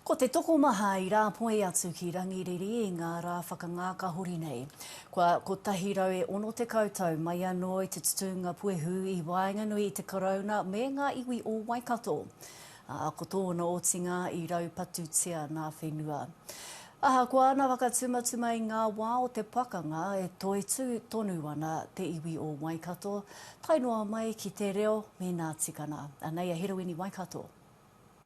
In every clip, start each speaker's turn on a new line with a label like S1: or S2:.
S1: Ko te tokomaha i rāpoi atu ki Rangiriri i ngā rā whakangāka hori nei. Kua 160 tau mai anō i te tutūnga puehu i waenganui i te Karauna me ngā iwi o Waikato, ā, ko tōna otinga i raupatutia nā whenua. Ahakoa ana whakatumatuma i ngā wā o te pakanga, e toitū tonu ana te iwi o Waikato, tae noa mai ki te reo me nā tikana. Anei a Hiruini Waikato.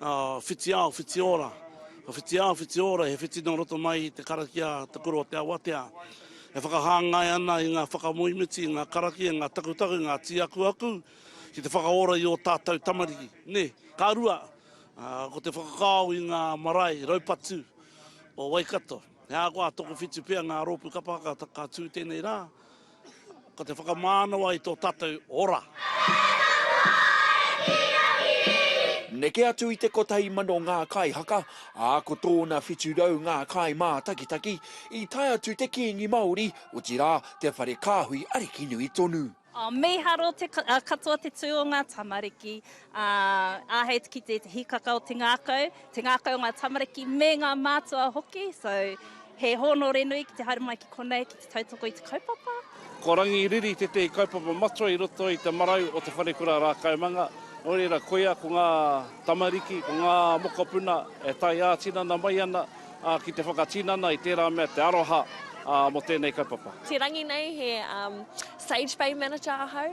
S2: whiti ao, whiti ora. Ko whiti ao, whiti ora, he whiti nō roto mai i te karakia Te Kura o Te Awatea. E whakahāngai ana i ngā whakamoemiti, i ngā karakia, i ngā takutaku, i ngā tīakuaku ki te whakaora i ō tātou tamariki. Nē, ka rua, ko te whakakao i ngā marae raupatu o Waikato. He aha koa, toku whitu pea ngā rōpū kapa haka ka tū tēnei rā, Ko te whakamānawa i tō tātou ora.
S3: Neke atu i te kotahi mano ngā kaihaka, ā, ko tōna whitu rau ngā kaimātakitaki, i tae atu te Kīngi Māori, otirā, te whare kāhui ariki nui tonu. Oh, mīharo
S4: te katoa te tū o ngā tamariki, ā, āhei te kite i te hīkaka o te ngākau. te ngākau o ngā tamariki me ngā mātua hoki, so he hōnore nui ki te haere mai ki konei ki te tautoko i te kaupapa. Ko Rangi Riri
S5: tētehi kaupapa matua i roto i te marau o Te Wharekura Rākaumanga, nō reira koia ko ngā tamariki, ko ngā mokopuna e tae ā-tinana mai ana ki te whakatinana i tērā mea te aroha mō tēnei kaupapa. Te rangi nei he
S6: Sage Bay Manager ahau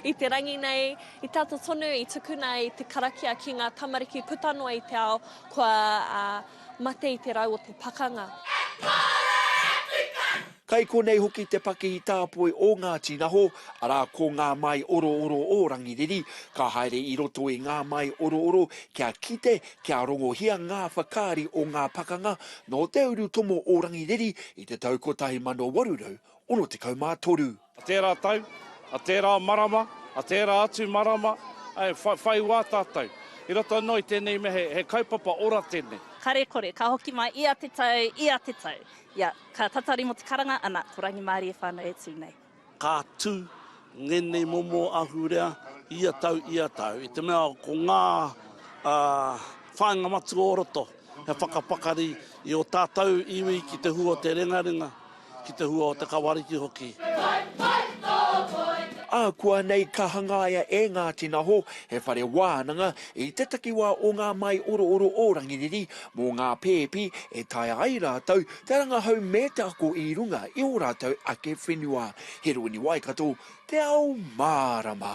S6: i te rangi nei. I te ata tonu i tukuna ai te karakia ki ngā tamariki puta noa i te ao kua mate i te rau o te pakanga.
S3: Kai konei hoki te pakihi tāpoi o ngā tīnaho, arā ko ngā māi orooro o Rangiriri. Ka haere i roto i ngā māi orooro kia kite, kia rongohia ngā whakaari o ngā pakanga nō te urutomo o Rangiriri i te tau 1863. A tērā tau,
S5: a tērā marama, a tērā atu marama, āe, whai, whai wā tātou. I roto anō i tēnei mea, he, he kaupapa ora tēnei. Karekore, ka hoki
S4: mai ia te tau, ia te tau. Ia, ka tatari mō te karanga, ana, ko rangimārie whānau e tū nei. Ka tū
S2: ngēnei momo ahurea ia tau, ia tau, i te mea ko ngā, ā, whāinga matua o roto. He whakapakari i ō tātou iwi ki te hua o te rengarenga, ki te hua o te kawariki hoki.
S3: Ākuanei ka hangaia e Ngāti Naho he whare wānanga i te takiwā o ngā māiorooro o Rangiriri mō ngā pēpi e taea ai rātou te rangahau me te ako i runga i ō rātou ake whenua. He rūniwaikato te ao mārama.